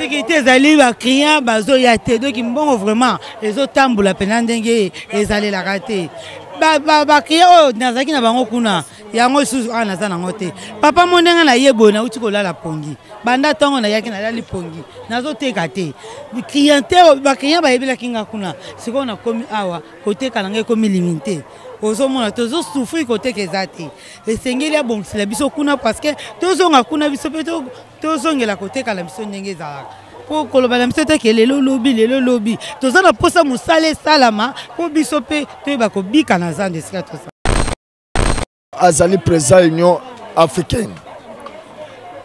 sekirite ezali baclient bazoya te doki mbongo vraiment ezotambola mpena ndenge ezalelaka te baclient oyo nazalaki na bango kuna yango lisusu awa naza nango te papa mo ndenge naye boye nauti kolala pongi banda ntongo nayaki nalali pongi nazoteka te cliente baclient bayebelaki nga kuna sikoyo nakomi awa koteka na ngai ekomi limite ozomona tozosufri koteka eza te esengeli abongisela biso kuna parceke tozonga kuna biso mpe tozongela koteka na biso ndenge ezalaka mpo koloba na biso te ke lelo lobi lelo lobi toza na mposa mosala esalama mpo biso mpe toyeba kobika na zando esika toza azali président union africaine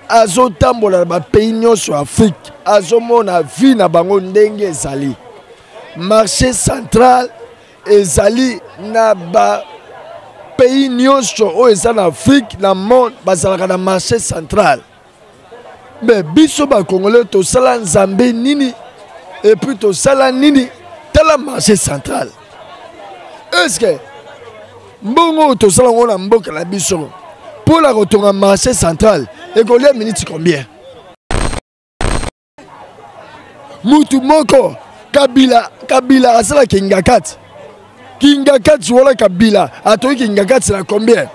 azotambola na bapays nyonso ya afrique azomona vie na bango ndenge ezali marché central ezali na ba pays nyonso oyo eza na afrique na monde bazalaka na marché central me biso bacongolais tosala nzambe nini epuis tosala nini tala marché central estce mbongo oyo tosala yango na mboka na biso mpo na kotonga marché central ekolia miniti combien mutu moko kabila kabila asala kingakati kingakati wana kabila atoki kingakati na combien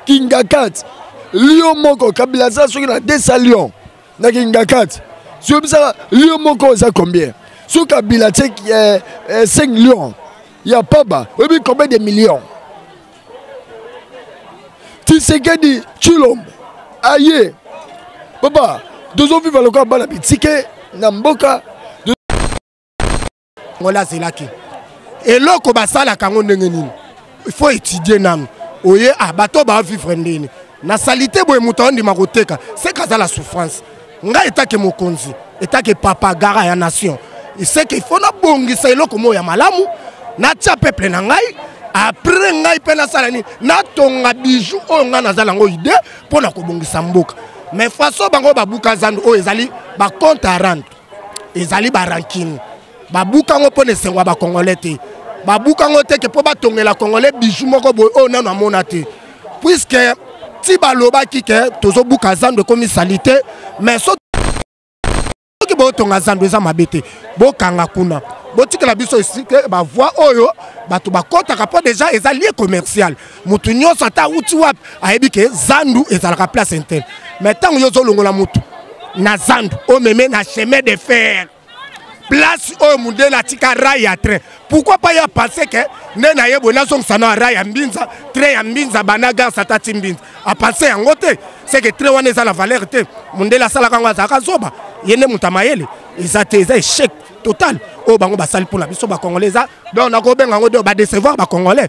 kingakati lio moko kabila asala soki na 200 lion na kingakati soyebisaka lio moko eza combien soki kabila tie eh, eh, 5 lion ya paba oyebi combien de millions tisekedi tshilombo aye papa tozoviva lokola bana bitike na mboka ngola azelaki eloko basalaka yango ndenge nini il faut étudier nanu oye ah bato baavivre ndeni na salite boye moto aondima koteka seka aza la souffrance ngai etake mokonzi etake papa gara ya nation seke ifo nabongisa eloko moko ya malamu natya peuple na ngai apres ngai mpe nasala nini natonga bijou oyo ngai naza nango ide mpo na kobongisa mboka mais façon bango babuka zando oyo ezali bacompte arande ezali barankine babuka yango mpo na esengo ya bakongole te babuka yango te ke mpo batongela kongole biju moko boye oyo nano amona te puiske ti balobaki ke tozobuka zando ekomi salite mais soki botonga zando eza mabe te bokanga kuna botikela biso esike bavoi oyo bato bakɔtaka mpo deja eza lie commercial motu nyonso ata auti wapi ayebi ke zandu ezalaka place interne mais ntango yo ozolongola motu na zandu omeme na chemin de fer place oyo mundele atika rai ya train pourquoi pas ya pense ke nde na ye boye nazongisa na rai ya mbinza train ya mbinza bana gare satati mbinza apense yango te seke train wana eza na valeur te mundele asalaka yango azalaka zoba ye nde moto ya mayele eza te eza echec total oyo bango basali mpo na biso bacongolais eza donc nakobenga yango de badecevoir bacongolais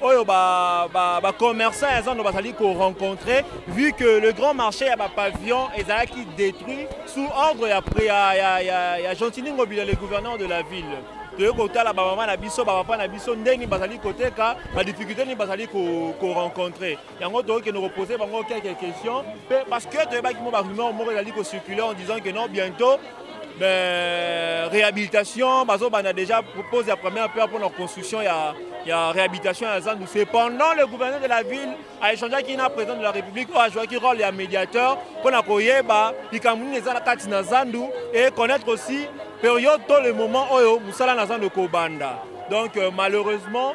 oyo ba, ba, ba commerçants ya zando bazali korencontre vu que le grand marché ya bapavillon ezalaki détruit sous ordre ya, ya, ya, ya, ya gentini ngobila le gouverneur de la ville toyei kotala bamama na biso bapapa na biso ndeni bazali koteka badifficulté nini bazali korencontre ko yango tokokende kopose bango quelques questions mpe parce que toyebaki mo barumeur moko ezali kocircule en disant que non bientôt ben, réhabilitation bazobanda déjà pose ya première pierre mpona construction ya, ya réhabilitation ya zandu cependant le gouverneur de la ville aéchangeaki na président de la république oyo ajouaki rôle ya médiateur mpona koyeba likambo nini eza na kati na zandu et connaître aussi période to le moment oyo mosala na zandu ekobanda donc euh, malheureusement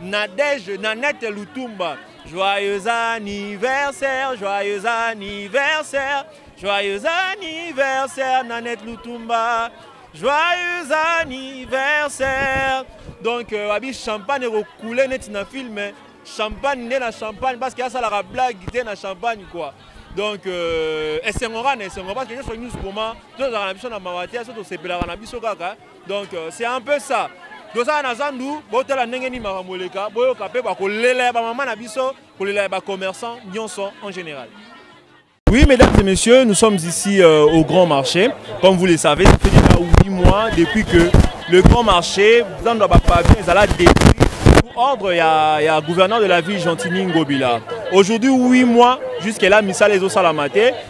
Nadège Nanette Lutumba. Joyeux anniversaire, joyeux anniversaire, joyeux anniversaire Nanette Lutumba. Joyeux anniversaire. Donc euh, abi champagne ekokoule neti na film hein. champagne nde na champagne parce que asalaka blague te na champagne quoi. donc euh, esengora na esengo parce que nyonso nyonso koma tozalaka na biso na mawa te so tosepelaka na biso kaka donc euh, c'est un peu ça tozala na zandu botala ndenge nini makambo eleka boyoka mpe bakolela ya bamama na biso kolela ya bacommerçant nyonso en général Oui, mesdames et messieurs, nous sommes ici euh, au Grand Marché. Comme vous le savez, ça fait déjà 8 mois depuis que le Grand Marché, dans le pavé, est à détruit pour ordre, il y, a, il y a gouverneur de la ville, Gentini Ngobila. Aujourd'hui, 8 mois, jusqu'à là, Missa les Osalamate,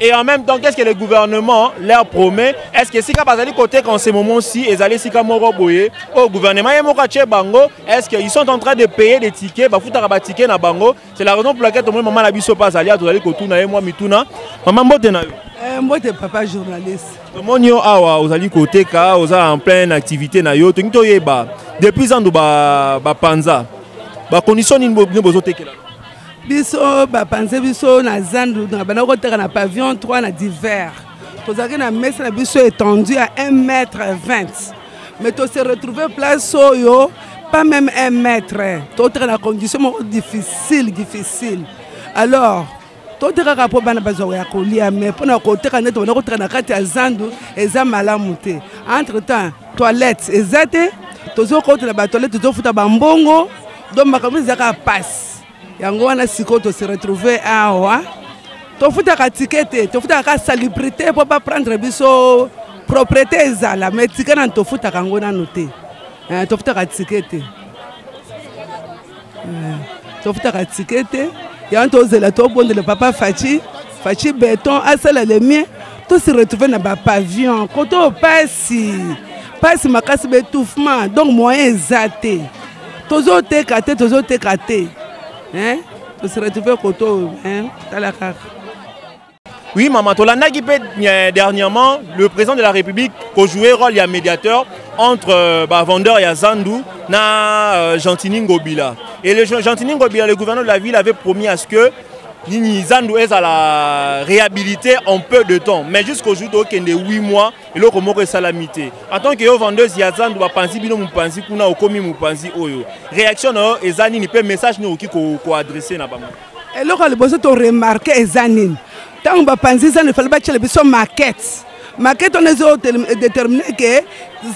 Et en même temps, qu'est-ce que le gouvernement leur promet Est-ce que Sika Bazali côté qu'en ce moment-ci, ils allaient Sika Moroboye au gouvernement Yemokache Bango Est-ce qu'ils sont en train de payer des tickets Bah, fouta ba tickets na Bango. C'est la raison pour laquelle tout le monde maman la biso pas allé à tout aller côté na moi mituna. Maman bote na yo. Eh, mbote papa journaliste. Tomoni yo awa ozali koteka, oza en pleine activité na yo. Tongi toyeba depuis ando ba ba panza. Ba condition nini bozo tekela? biso bapanze biso na zandu na banda koteka na pavillon 3 na divers tozalaki na mesa na biso étendu ya 1 mètre 20 mais tose retrouve place oyo pas même 1 mètre toteka na condition moko difficile difficile alors totekaka mpo bana bazwa ya kolia mais mpo na koteka nde tobanda koteka na kati ya zandu eza malamu te entre temps toilette eza te tozokotela batoilette tozofuta bambongo donc makambo eza kaka mpasi yango wana sikoyo tose retrouve awa tofutaka tike te tofutaka kaka salubrité mpo baprendre biso propriété ezala mai tike nanu tofutaka yango nanu te eh, tofutaka tike te eh, tofutaka tike te yango tozela tobondela papa faci faci beton asala le mien tose retrouve na bapavion koto mpasi mpasi makasi ba étouffement donc moyen eza te tozoteka te tozoteka te hein? se retrouve kote oyo tala kaka oui mama tolandaki mpe euh, dernièrement le président de la république kojouer rôle ya médiateur entre euh, bavendeur ya zandu na euh, gentini ngobila et le gentini ngobila le gouverneur de la ville avait promis à ce que nini zandu ezala réhabilité en peu de temps mais jusqu'aujourd'hui tokende 8 mois eloko moko esalami te en tant que yo vendeuse ya zandu bapanzi bino mopanzi kuna okomi mopanzi oyo réaction na yo eza nini mpe message nini okoki koadresse na bango eloko ya liboso toremarke eza nini ntango bapanzi zandu efali batyela biso markete markete wana ezo détermine ke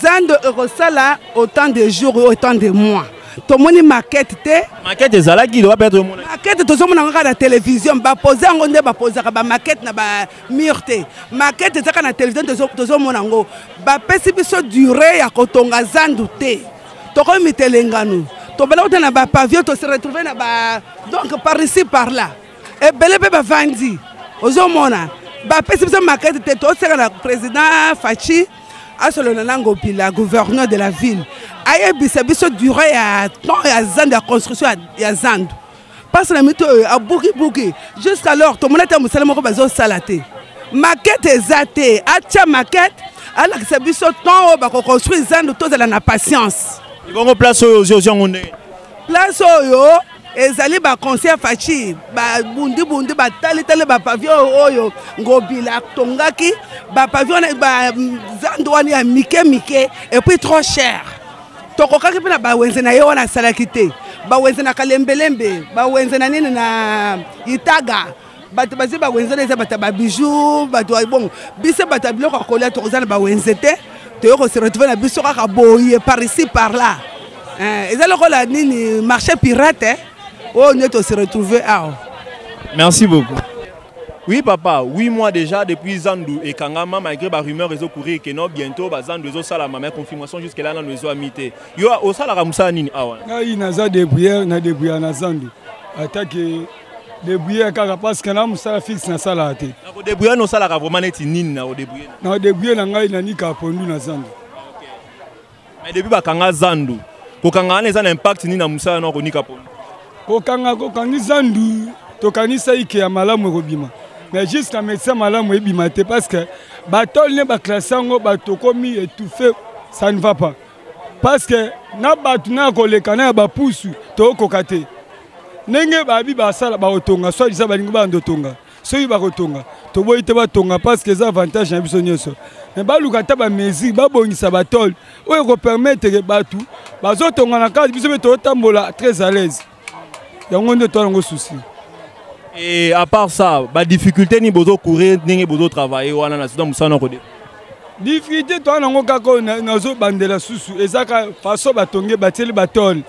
zandu ekosala autant de jour oyo autant de mois tomoni markete te markete ezalaki loba mpe tozomonakete tozomona kaka na télévision bapose yango nde bapozaka bamarkete na mur te makete ezaka na television tozomona yango bapesi biso dure ya kotonga zandu te tokomi mitelengano tobala kuta na bapavio tose retrouve na ba donc par ici par là ebele mpe bavandi ozomona bapesi biso makete te toseka na président faci asolola na ngopila gouverneur de la ville ayebisa biso dure ya temps ya zandu ya construction ya zandu mpasi na mito oyo abukibuki jusqu'alors tomoni ata mosala moko bazosala te makete eza te atya makete alakisa biso temps oyo bakoconstruire zando tozala na patience ebongo place oyo ozwi ozwi yango ndenge place oyo ezali baconseil faci babundibundi batalitali bapavillon oyo ngobila atongaki bapavillon zando wana ya mike mike epuis trop cher tokokaki mpe na bawenze na ye wana asalaki te bawenze na kalembelembe bawenze na nini na itaga bato bazwi bawenze na eza bato ya babiju bato ya bongo biso bato ya biloko ya kolia tokoza na bawenze te toye kose retrouve na biso kaka boye par ici par là eh, eza lokola nini marché pirate eh? oyo nde tose retrouve awa merci beaucoup Oui papa, 8 mois déjà depuis Zandu et Kangama, malgré les rumeurs et courir que non, bientôt bah, Zandu et Salama, mais confirmation jusque là, nous avons mité. Yo, au Salara Moussa Nini, awa. Ah Ngai, naza débrouillé, na débrouillé na Zandu. Attaque débrouillé kaka parce que na musala fixe na sala te. Na ko débrouillé no sala ka vraiment neti nini na ko débrouillé. Na débrouillé na ngai na nika pondu na Zandu. mais depuis bakanga zandu kokanga wana eza na impact nini na mosala na konika pona kokanga kokangi zandu tokanisaki ke ya malamu ekobima mais jusqu'à médecin malamu ebima te parce que batole ne baklasse yango bato okomi étouffe ça ne va pas parce que na bato na ya koleka na ya bapusu tokokoka te ndenge babi basala bakotonga soit disa balingi banda otonga soki bakotonga toboyi te batonga parce que eza avantage na biso nyonso mais baluka ata bamesure babongisa batole oyo ekopermettre bato bazotonga na kati biso mpe totambola très à l'aise yango nde toa nango souci et à part ça badifficulté nini bozocourir ndenge bozotravaille wana na sida mosala noko de difficulté toa nango kaka oyo nazobandela susu eza ka façon batonge batieli batole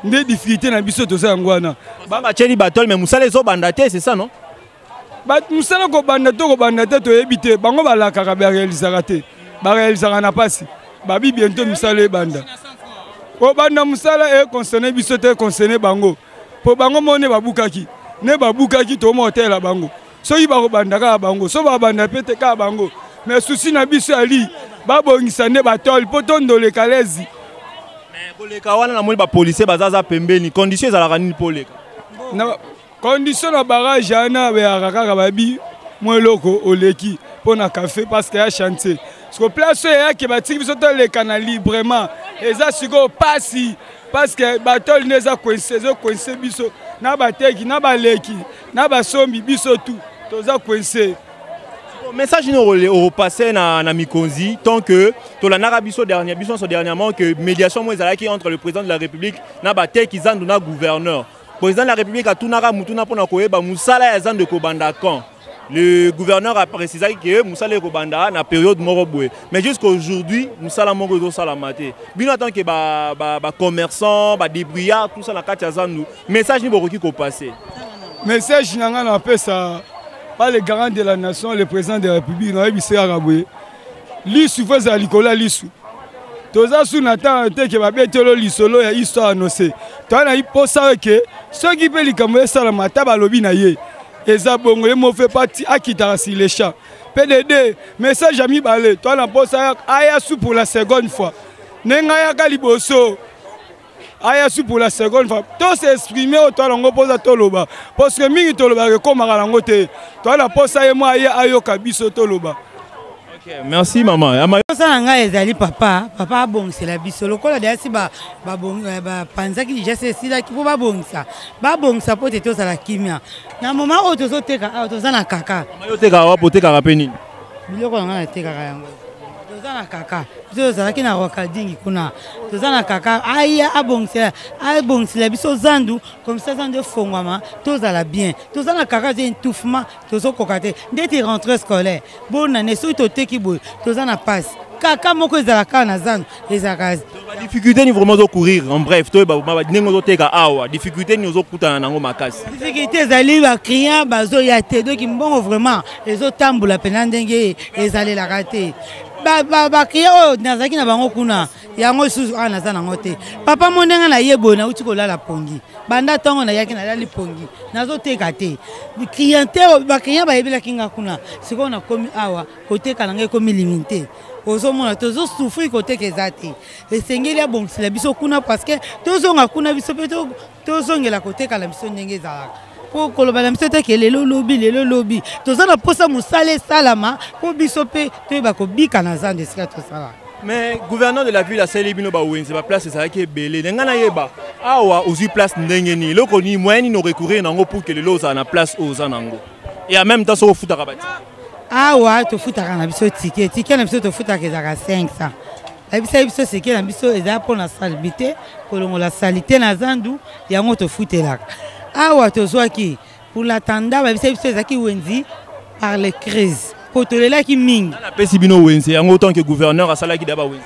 nde difficulté na biso toza yango wana batieli batole mais mosala ezobanda te c'est ça non mosala kobanda to kobanda te toyebi te bango balakaka barealisaka te barealisaka na mpasi babi biento misala ebanda kobanda mosala econcerne biso te econcerne bango mpo bango moko nde babukaki nde babukaki tokomoka oteyela bango soki bakobanda kaka bango so babanda mpe te kaka bango me susi na biso ya lii babongisa nde batole mpo tondole kalezi koleka wana namoni bapolisier bazaza pembeni condition ezalaka nini mpo oleka condition na barage wana beyaka kaka babi mwa eloko oleki mpo na café parceke ya chantier siko place oyo eyaki batiki biso toleka na librement eza sikoyo mpasi parceke batole nde eza coinse ezocoinse biso na bateki na baleki na basombi biso tu toza coince message nini orepasse na, na mikonzi tant que tolandaka biso dernier biso nyonso dernièrement que médiation moko ezalaki entre le président de la république na bateki zandu na gouverneur président de la république atunaka motuna mpo na koyeba mosala ya zandu ekobanda quand le gouverneur a précisé que musala ekobanda na période moko boye mais jusqu'à aujourd'hui musala moko ezosalama te bino en tant que ba, ba, ba commerçant ba débrouillard tout ça na kati ya zandu message nini bokoki kopase message na ngai napesa pa le garant de la nation le président de la république nayebisa yaka boye lisu fo ezala likolo ya lisu toza su na ntango te ke babetelo lisolo ya histoire anose toza na mposa ke soki mpe likambo esalama ata balobi na ye eza bongo ye mofe pati akitaka sur le champ pdd message ya mibale toza na mposa aya su pour la seconde fois ndenge ayaka liboso aya su pour la seconde fois to s'exprime oyo toala yango mposa toloba parce que mingi tolobaka ekomaka nango te toala mposa ye mwa aye ayoka biso toloba Okay, merci mama mposa na ngai ezali papa papa abongisela biso lokola deasi eh, bapanzaki ba, ba, déjà se esilaki mpo babongisa babongisa mpo te tozala kimia na moma oyo tozoteka awa toza na kaka yo otekaka wapi otekaka mpe nini biloko na ngai natekaka yango toza na kaka biso tozalaki na rokadingi kuna toza na kaka aya abongisela abongisela biso zandu komisa zandu efongwama tozala bien toza na kaka te entouffement tozokoka te ndeti rentre scolaire bonane soki toteki boye toza na mpasi kaka moko ezalaka na zandu ezalaka difficulté ni vraiment zo courir en bref to ba ba ndenge zo teka awa difficulté ni zo kutana nango makasi difficulté ezali ba client bazo ya te donc mbongo vraiment ezo tambola pena ndenge ezali la kate ba ba ba client oyo nazaki na bango kuna yango lisusu awa naza nango te papa mo ndenge naye boye nauti kolala pongi banda ntongo nayaki nalali pongi nazoteka te cliente baclient bayebelaki nga kuna sikoyo nakomi awa koteka na ngai ekomi limite ozomona tozosufri koteka eza te esengeli abongisela biso kuna parceke tozonga kuna biso mpe tozongela koteka na biso ndenge ezalaka mpo koloba na biso te ke lelo lobi lelo lobi toza na mposa mosala esalama mpo biso mpe toyeba kobika na zando esika tosalaka mais gouverneur de la ville asali bino bawenze baplace ezalaki ebele na ngai nayeba awa ozwi place ndenge nini eloko nini moyen nini orecourir na yango pour ke lelo ozala na place oyo oza na yango et en même temps soki ofutaka ba ticket awa tofutaka na biso ticket ticket na biso tofutaka ezalaka 500 ayebisaki biso seke na biso ezali mpo na salbi te kolongola sali te na zandu yango tofutelaka awa tozwaki pour la tanda bayebisaki biso ezalaki wenzi par les crises mpo tolelaki mingi napesi bino wenze yango autant que gouverneur asalaki da bawenze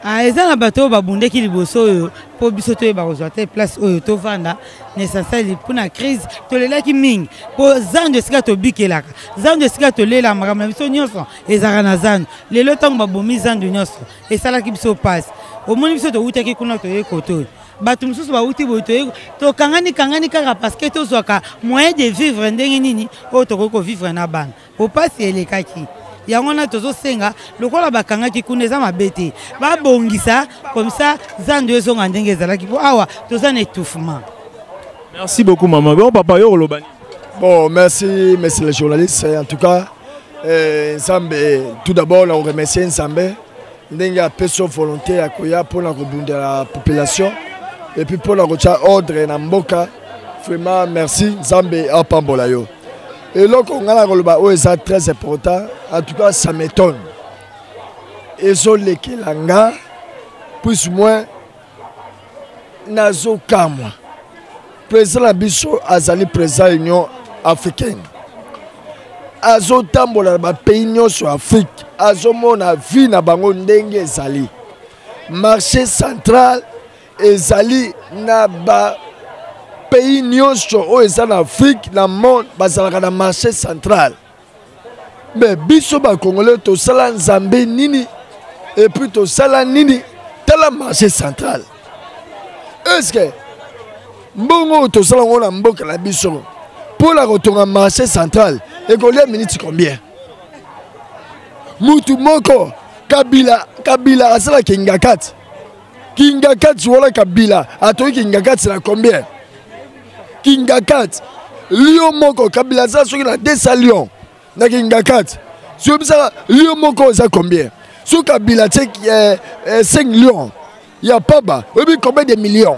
ah, eza na bato oyo babundaki liboso oyo mpo biso toyeba kozwa te place oyo tovanda na esansali mpo na crise tolelaki mingi mpo zando esika tobikelaka zando esika tolela makambo na biso nyonso ezalaka na zando lelo ntango babomi zando nyonso esalaki biso mpasi omoni biso towutaki kuna toyei kote oyo bato mosusu bawuti boye toyei tokangani kangani kaka parceke tozwaka moyen de vivre ndenge nini oyo tokoki kovivre na bana Opasi elekaki yango wana tozosenga lokola bakangaki kuna eza mabe te babongisa comme ça zando ezonga ndenge ezalaki mpo awa toza na étouffement merci beaucoup mama bon papa yo oloba nini bon merci monsieur le journaliste en tout cas eh, nzambe eh, tout d'abord na koremercie nzambe ndenge apesi volonté ya koya mpo na kobundela population epuis mpo na kotya ordre na mboka vraiment merci nzambe apambola yo eloko ngai nakoloba oyo eza très important en tout cas ça m'étonne ezolekela nga plus moins nazokamwa président na biso azali président union africaine azotambola na bapays nyonso ya afrique azomona vie na bango ndenge ezali marché central ezali na ba pays nyonso oyo eza na afrique na monde bazalaka na marché central me biso bacongolais tosala nzambe nini epuis tosala nini tala marché central estce mbongo oyo tosala yango na mboka na biso mpo na kotonga marché central ekolia miniti combien mutu moko kabila kabila asalaka ingakati kingakati wana kabila atoki kingakati na combien kingakati lio moko kabila aza soki na 200 lion na kingakati soyebisaka lio moko oza combien soki kabila tie eh, eh, 5 lion ya paba oyebi combien de millions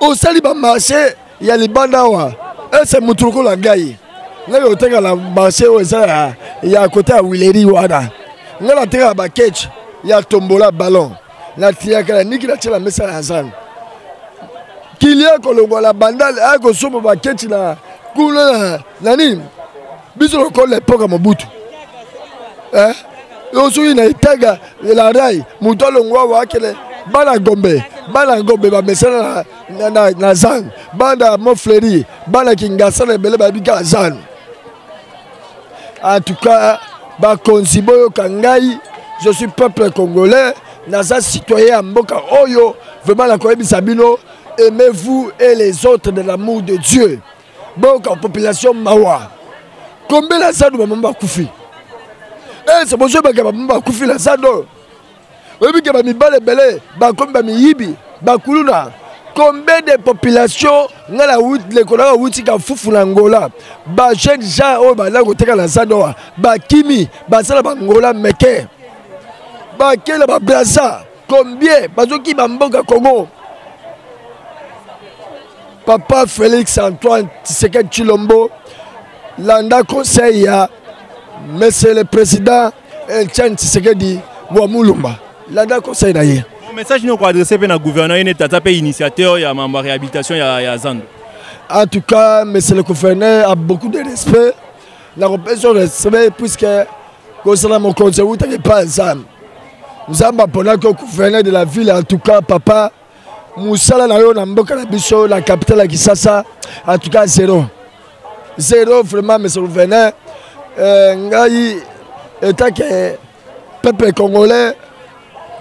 osali bamarche ya libanda awa ese motu lokola ngai ngai oteka na marche oyo eza ya, ya kote ya wileri wana ngai natekaka baketch ya tombola ballon natiyaka na niki natyela mesa ya zando kilia kolongwa na bandale akosomba baketch na kuna na nini biso lokola epoke ya mobutu eh? yo soki na itaga elarai moto alongwa waakele bana gombe bana gombe bamesana na, na, na zan bana mofleri bana kingasa na ebele bayebi kaka zan en tout cas bakonzi boyoka ngai je suis peuple congolais naza citoyen ya mboka oyo vraiment nakoyebisa bino aimez-vous et les autres de l'amour de dieu boyoka population mawa combien la zado bamama bakufi ese eh, bozoyebaka bamama bakufi la zado oyebike bamibale ebele bakomi bamiyibi bakuluna combien de population ngai na lekolo ngai awuti kafufu na angola bajeune gens oyo bazali koteka na zado awa bakimi baza na bangola meke bakela babraza combien bazokiba mboka congo papa félix antoine tisekedi chilombo landa conseil ya monsieur le président etienne tisekedi wa mulumba landa conseil na ye message nini okoadresse mpe na gouverneur ye neti aza mpe initiateur ya mambo ya réhabilitation ya, ya zando en tout cas monsieur le gouverneur a beaucoup de respect nakopesa respect puisque kozala mokonzi ewutaki epai ya nzambe nzambe aponaki yo gouverneur de la ville en tout cas papa mosala na yo na mboka na biso na capitale ya kisasa en tout cas zero zero vraiment monsieur gouverneur euh, ngai etake peuple congolais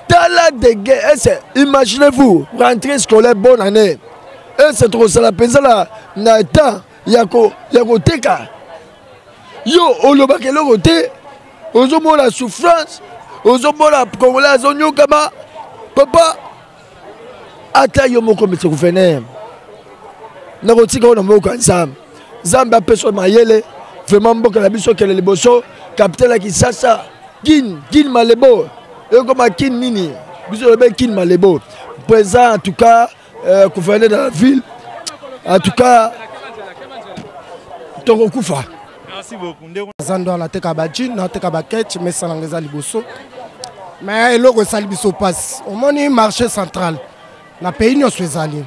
tala dege ese eh, imaginez vous rentrée scolaire bonne année ese eh, tokosala mpenza na temps ya koteka yo olobaka eloko te ozomona souffrance ozomona congolais azonyokama papa ata yo moko mese gouverneur nakotika oyo na moko ya nzambe nzambe apesa mayele vraimen mboka na biso kele liboso kapitale ya kisasa kin kin malebo ekoma kin nini biso lobe kin malebo présent en tout cas euh, gouverneur de la ville en tout cas tokokufa zando wana ateka bajine ateka baketch mesa nanga eza liboso me eloko esali biso mpasi omoni marché central na pays nyonso ezali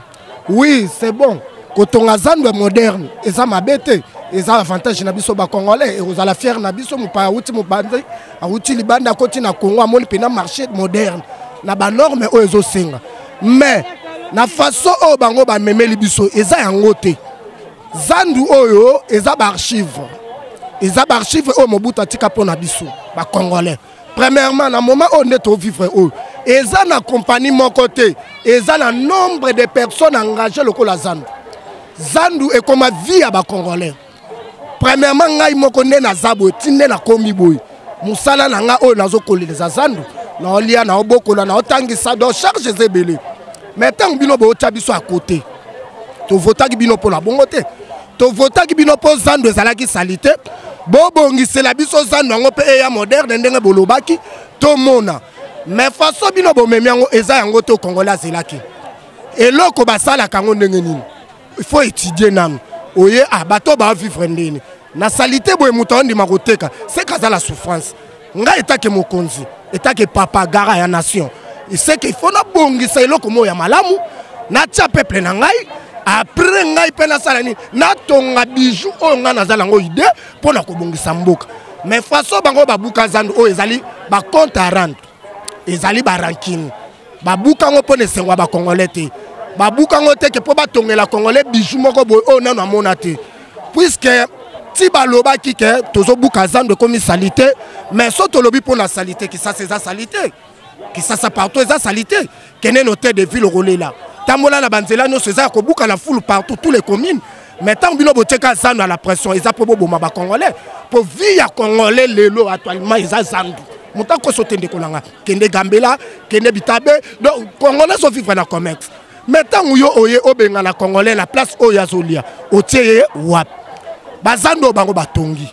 oui c'est bon kotonga zando moderne eza mabe te eza avantage na biso bacongolais ekozala fiere na biso mopaya awuti mobanzi awuti libanda akoti na congo amoni mpena marché moderne na banorme oyo ezosenga mais na façon oyo bango bamemeli biso eza yango te zandu oyo eza baarchive eza baarchive oyo mobutu atika mpo na biso bacongolais premièrement na moment oyo nde tovivre oyo eza na kompani moko te eza na nombre de personnes engage lokola zandu zandu ekoma vie ya bacongolais premièrement ngai moko nde naza boye ti nde nakomi boye mosala na ngai oyo nazokolela eza zando naolia naobokola naotangisa donc charge eza ebele mais ntango bino bootya biso ya kote tovotaki bino mpo na bongo te tovotaki bino mpo zando ezalaki salite bobongisela biso zando yango mpe eya moderne ndenge bolobaki tomona mais façon bino bomemi yango eza yango to kongola azelaki eloko basalaka yango ndenge nini il faut étudier nanu oye ah bato baavivre ndeni na salite boye moto aondima koteka seke aza la souffrance ngai etake mokonzi etake papa gara ya nation seke ifo nabongisa eloko moko ya malamu natya peuple na ngai apres ngai mpe nasala nini natonga bijou oyo ngai naza nango ide mpo na kobongisa mboka mais façon bango babuka zando oyo ezali bacompte arande ezali barankine babuka yango mpo na esengo ya bacongolais te babuka yango te ke mpo batongela congolais biju moko boye oyo nano amona te puiske ti balobaki ke tozobuka zando ekomi salite mais so tolobi mpo na salite kisasa eza salite kisasa partout eza salite kende na hotel de ville okolela tambola na banzela nyonso eza ya kobuka na fulu partout tous les communes mais ntango bino botyeka zando ya la pression eza mpo boboma bacongolais mpo vie ya congolais lelo actuellement eza zando moto akoso te ndeko na ngai kende gambela kende bitabe donc congolais azovivre na comexe mais ntango yo oye obengana congolais na place oyo azolia otie ye wapi bazando bango batongi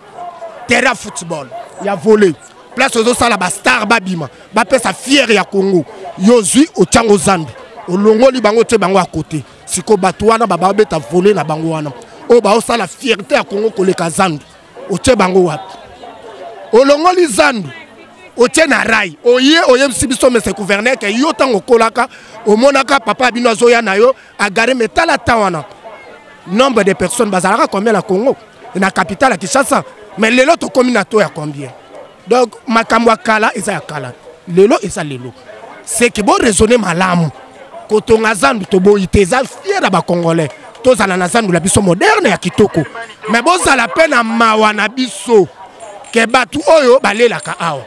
terrain ya football ya volet place ozosala bastar babima bapesa fiere ya congo yo ozwi otyango zambi olongoli bango otie bango ya kote sikoyo bato wana bababeta volet na bango wana oyo baosala fierte ya congo koleka zandu otie bango wapi olongoli zandu otie na rai oye oyebisi biso mese gouverneur ke yo ntango okolaka omonaka papa ya bino azoya na yo agare me tala ta wana nombre de personnes bazalaka combien na congo na capitale ya kinshasa me lelo tokomi na to ya combien donc makambo ya kala eza ya kala lelo eza lelo seke boraisonne malamu kotonga zandu toboyi te eza fier ya bacongolais tozala na zandu na biso moderne ya kitoko me bozala mpe na mawa na biso ke bato oyo balelaka awa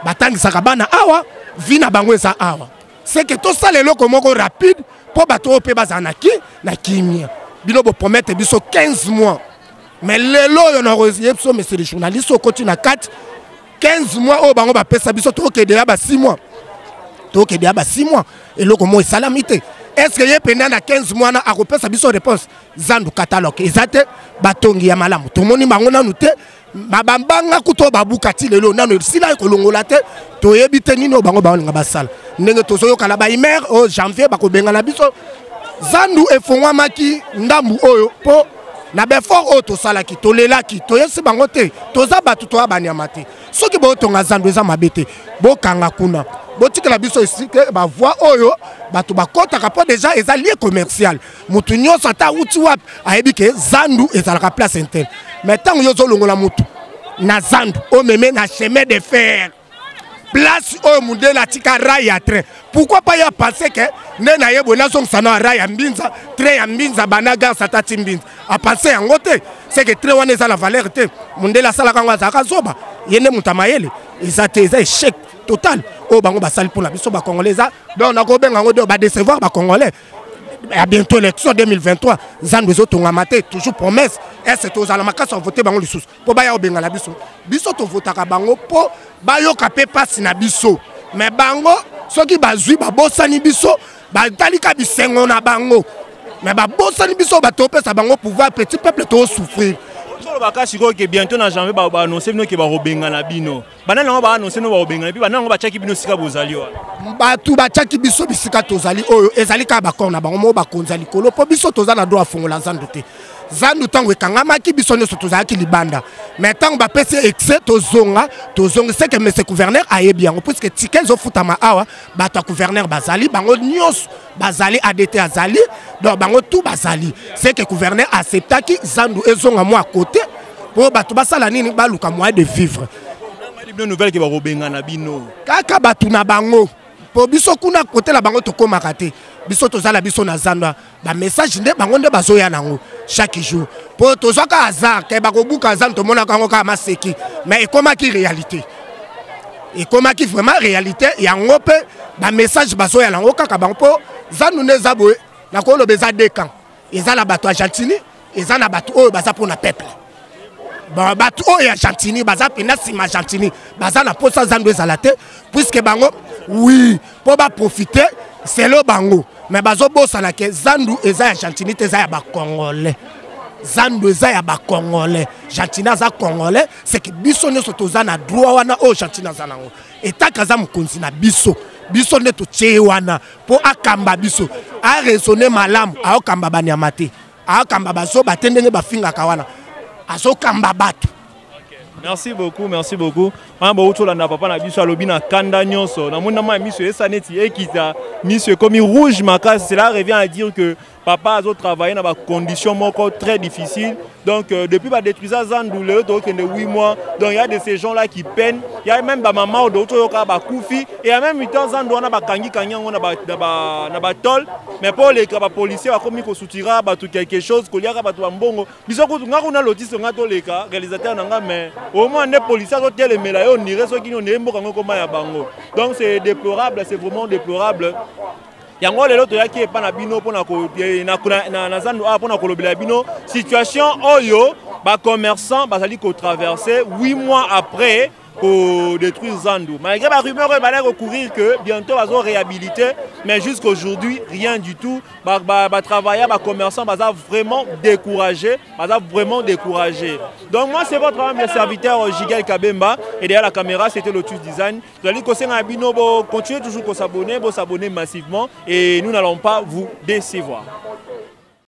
batangisaka bana awa vi na bango eza awa seke tosala eloko moko rapide mpo bato oyo mpe bazala na ki na kimia bino bopromete biso 15 mois mais lelo oyo na ye biso monsieur le journaliste okoti na kati 15 mois oyo bango bapesa biso tokokende ya ba 6 mois tokokende ya ba 6 mois eloko moko esalami te est ce que ye mpenza na 15 mois wana akopesa biso réponse zandu catalogue eza te batongi ya malamu tomoni bango nanu te babambanga kutu oyo babuka ti lelo nano esila ekolongola te toyebi te nini oyo bango baolinga basala ndenge tozoyokana baimaire oyo janvier bakobengana biso zandu efongwamaki ndambu oyo mpo na befort oyo tosalaki tolelaki toyesi bango te toza bato toya banyama te soki botonga zando eza mabe te bokanga kuna botikela biso esike bavoi oyo bato bakɔtaka mpo deja eza lie commercial motu nyonso ata awuti wapi ayebi ke zandu ezalaka place interne mai ntango yo ozolongola motu na zandu omeme na chemin de fer place oyo mundele atika rai ya train pourquoi pas ya pense ke nde na ye boye nazongisa na rai ya mbinza train ya mbinza bana gare satati mbinza apense yango te seke train wana eza na valeur te mundele asalaka yango azalaka zoba ye nde moto ya mayele eza te eza echec total oyo bango basali mpo na biso bacongolais eza donc nakobenga yango donc badecevoir bacongolais ya bientôt élection 2023 nzambe ezotongama te toujours promesse ese tozala makasi ya vote bango lisusu mpo baya kobengana biso biso tovotaka bango mpo bayoka mpe mpasi na biso me bango soki bazwi babosani biso batalika bisengo na bango me babosani biso bato opesa bango pouvoir petit peuple toosouffrir ozoloba ka sikoyo ke bientôt na janvier baannonce bino ke bakobengana bino banani yango baanonse no bakobengana mpe banani yango batyaki bino esika bozali wana bato batyaki biso bisika tozali oyo ezali kaka bakor na bango moko bakonzi ya likolo mpo biso toza na dro afongola zandu te zandu ntango ekangamaki biso nyonso tozalaki libanda mai ntango bapesi exe tozonga tozongi seke mese guverner ayebi yango puiske tike ezofutama awa bato ya guverner bazali bango nyonso bazali adt azali donc bango tu bazali seke guverner acceptaki zandu ezonga mwa kote po bato basala nini baluka moyen de vivre bino nouvelle ke bakobengana bino kaka bato na bango po biso kuna kote na bango tokomaka te biso toza na biso na zanda bamessage nde bango nde bazoya nango chaque jour po tozwaka hasard ke bakobuka zando tomonaka yango kaka maseki mais ekomaki réalité ekomaki vraiment réalité yango mpe bamessage bazoya nango kaka bango mpo zando nde eza boye nakoloba eza dekan eza na bato ya gentini eza na bato oyo baza mpo na peuple bato oyo ya gentini baza mpenza nsima ya gentini baza na mposa zando ezala te puiske bango wi mpo baprofite selo bango me bazobosana ke zandu eza ya gentini te eza ya bacongolais zando eza ya bacongolais gentini aza congolais seke biso nyonso toza na droit wana oyo gentini aza nango etaka aza mokonzi na biso biso nde totie ye wana mpo akamba biso aresone malamu aokamba banyama te aokamba bazoba te ndenge bafingaka wana azokamba bato merci beaucoup merci beaucoup wana bauti olanda papa na biso alobi na kanda nyonso namoni na mai miso esa neti ekita miso ekomi rouge makasi cela revient à dire que papa azo travailler na ba conditions moko très difficile donc euh, depuis ba détruisa zandu lelo tokende 8 mois donc il y a de ces gens là qui peinent il y a même ba maman odo toyoka ba kufi et en même temps zandu wana ba kangi kangi yango na ba na ba na ba tol mais pour les ba policiers ba komi ko soutira ba tout quelque chose ko liaka ba to mbongo biso ko nga kuna lotise nga to leka réalisateur na nga mais au moins ne policiers zo telemela yo ni reso kino ne mboka ngo koma ya bango donc c'est déplorable c'est vraiment déplorable yango lelo toyaki epa na bino mpona eh, na zando awa mpona kolobela bino situation oyo bacommerçant bazali kotraverse 8 mois après kodétruire zandu malgré barumeur oyo balaki kocourir que bientôt bazo réhabilité mais jusqu'aujourd'hui rien du tout batravailleur ba, ba bacommerçant baza vraiment découragé baza vraiment découragé donc moi c'est votre âme le serviteur euh, gigel kabemba et derrière la caméra c'était lotus design Tozali kosenga na bino bo continuer toujours ko s'abonner, bo s'abonner massivement et nous n'allons pas vous décevoir.